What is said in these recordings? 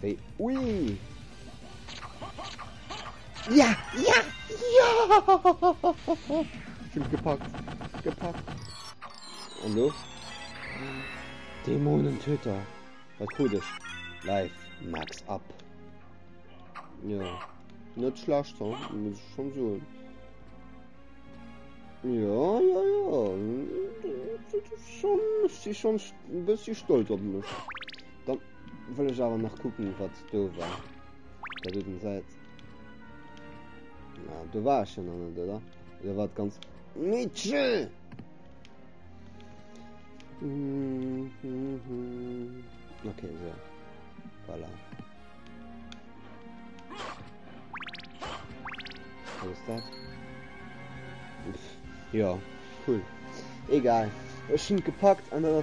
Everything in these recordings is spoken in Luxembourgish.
Hey, ui! Ja! Ja! Ja! Sind gepackt! Gepackt! Und los? Dämonentöter! Was tut es? Live Max ab! Ja, nicht schlecht, so. muss ich schon so. Ja, ja, ja. Schon, ich bin schon ein bisschen stolz auf mich. Wëll ech awer nach kucken, wat do war. Dat do den Säit. Ja, do war ech jo nach net, oder? Oder war et ganz... Mitchell! Mhm, mhm, mhm. Okay, so. Voilà. Was ist das? Ja, cool. Egal. Es schon gepackt an der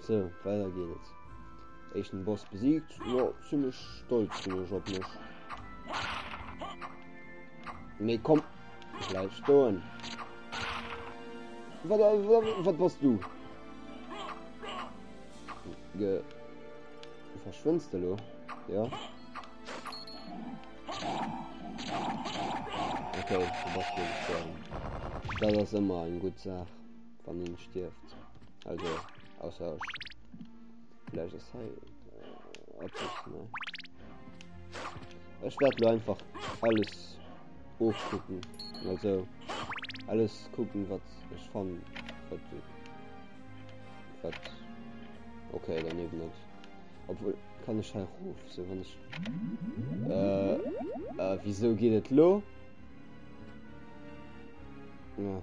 So, weider geet et. Echten Boss besiegt. Jo, ziemlich stolz bin ich op mech. Nee, komm. Bleib stoen. Wat, wat, wat was du? Ge... Verschwindst du, lo? Ja. Okay, du bist gestorben. Das ist immer eine gute Sache. Wann een stierft. Also, ausser ech. Vläch ass hei äh, eppes, ne? Ech wäert lo einfach alles ofkucken. Also, alles kucken, wat ech fann, wat du. Wat. Okay, daneben net. Obwohl, kann ech hei ruf, so wann ech. Äh, äh, wieso geht et lo? Ja.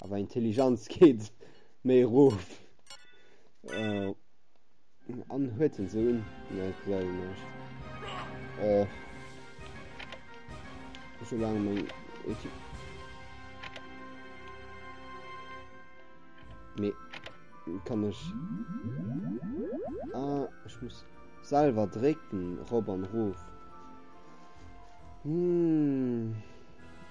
Awer Intelligenz geet méi erof. Äh, an huet en Sohn? Ne, ich glaube nicht. Oh. So lange mein Ulti. Nee, kann ich. Ah, ich muss selber drücken, Rob und Ruf. Hm.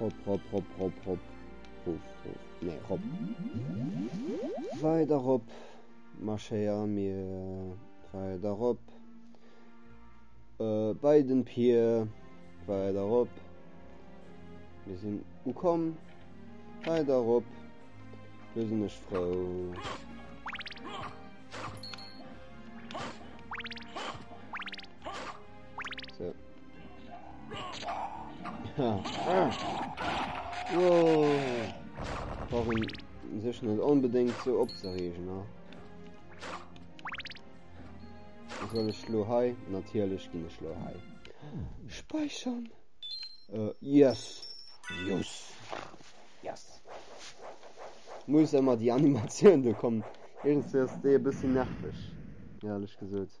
Rop, rop, rop, rop, rop. Ruf, ruf. Nee, rop. Weider rop. Marschéier mir weider rop. Äh, bei den Pier. Weider rop. Mir sinn ukomm. Weider rop. Lo sinn ech frou. Warum sech net onbedéngt ze opzeregen ha? Soll ech lo hei natierlech ginn ech lo hei. Speichern. Uh, yes. Yes. Yes. Muss ëmmer déi Animatioun do kommen. Irgendwéi ass déi e bëssi nerveg, ehrlech gesot.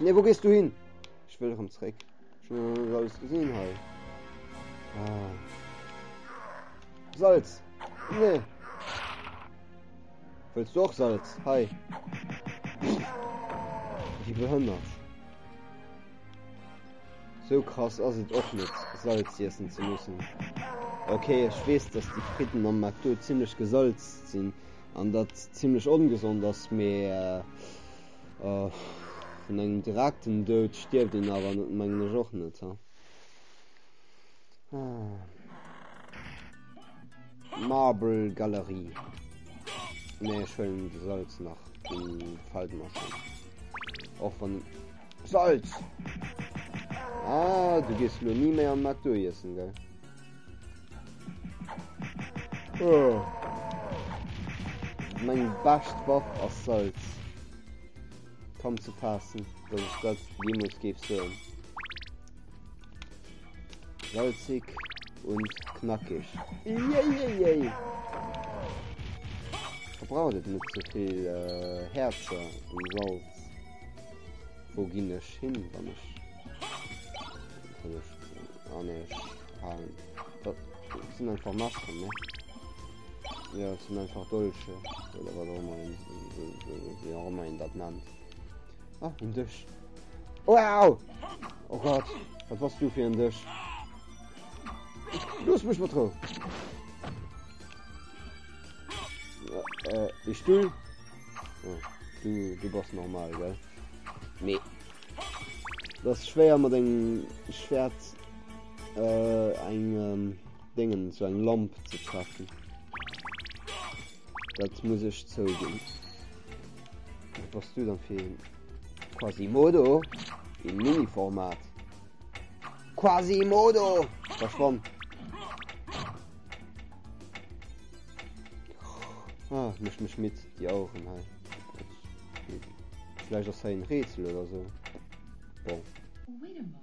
Ne wo gest du hin? Ech wëll rem zréck. Ech hun alles gesinn hei. Ah. Salz. Nee. Wëlls du och Salz? Hei. Wie behënnert. So krass ass et och net Salz iessen ze mussen. Okay, ech wees, dass die Fritten am McDo ziemlichlech gesalzt sinn an dat ziemlichlech ongesond ass mee. Äh, Vun engem direkten Doud stierft een awer net, mengen ech och net, ha. Marble Galerie. Nee, ech huelen de Salz nach. Den fällt mer schon. Och wann... Salz! Ah, du gehst mir nie méi an McDo iessen, gell? Oh. Meng best Waff ass Salz. Komm zu passen, dass ich dat jemals gebe so. Salzig und knackig. Yay, Verbraucht et net zu so viel äh, Herzer und Salz. Wo ginn ech hin, wann ich... Wann ich... Ah, nee, ich Perlen. Dat sinn einfach Maschen, ne? Ja, das sind einfach Dolche. Oder was auch immer, wie auch immer ihn das nennt. Ah, ein Tisch. Wow! Oh Gott, was warst du für ein Tisch? Los mich mal drauf! Äh, ich du? Oh, du, du bist normal, gell? Nee. Das ist schwer, mit dem Schwert Äh, eng ähm, Dingen, so eng Lamp ze treffen. Dat muss ech zouginn. Was du dann fir Quasimodo im Miniformat? Quasimodo! Verschwomm! Ah, mech mech mit Di Augen hei. Vielleicht ass hei en Rätsel oder so. Bon.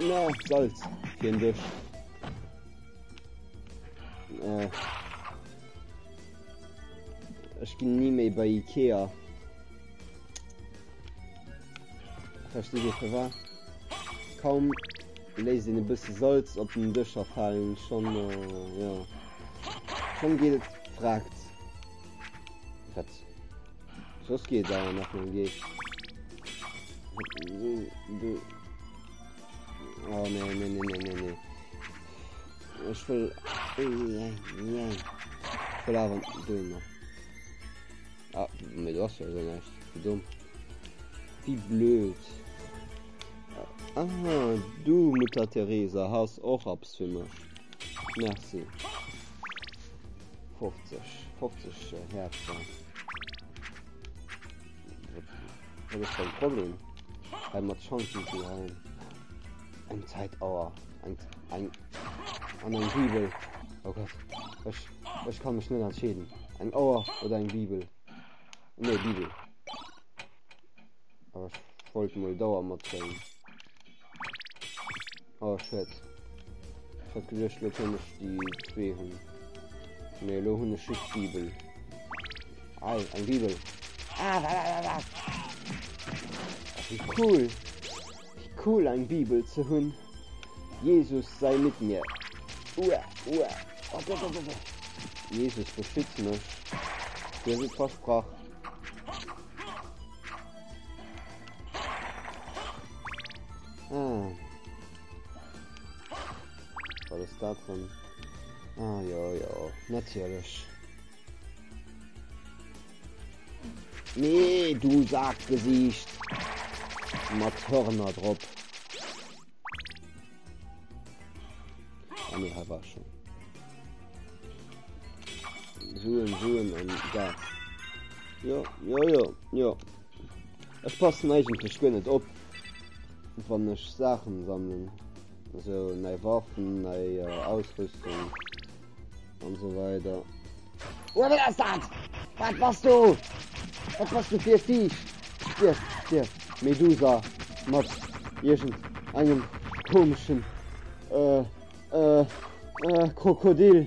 Na, Salz fir en Dësch. Äh. Ech ginn ni méi bei Ikea. Versteet Dir fir war? Kaum léis den e bësse Salz op den Dëscher fallen schon äh, ja. Schon geet et fragt. Wat? Soss geet et awer nach mam Geescht. Oh ne, ne, ne, ne, ne, ne. Ech wëll... Wëll awer dohin nach. Ah, mir du ass ja esou näischt. Wie dumm. Wie blöd. Aha, du Mutter Teresa has och Apps fir mech. Merci. 50 50 Häerzer. Dat ass kein Problem. Hei mat Chancen zu halen. Eng Zeitauer. Eng, eng, an eng Bibel. Oh Gott. Ech, ech kann mech net entscheeden. Eng Auer oder eng Bibel. Nee, Bibel. Aber ich wollte mal Dauer mitbringen. Oh shit. Ich hat gedacht, lo kann ich die zwei hun. Nee, lo hun ich just Bibel. Ei, ein Bibel. Ah, da, da, da, da. Wie cool. Wie cool, ein Bibel zu hun. Jesus sei mit mir. Ua, ua. Oh, da, da, da, da. Jesus beschützt mich. Dir wird versprochen. Ah. Wat ass dat dran? Ah ja ja, natierlech. Nee, du sagt Gesicht. Mat Hörner drop. An ah, war schon. Suen, suen an da. Ja, ja, ja, ja. Ech passen eigentlech guer net op wann ech Saachen sammelen, also nei Waffen, nei Ausrüstung an sou weider. Oe wat ass dat? Wat bass du? Wat bass du fir e Viech? Stierf, stierf, Medusa mat iergend engem komeschen, äh, äh, äh, Krokodil!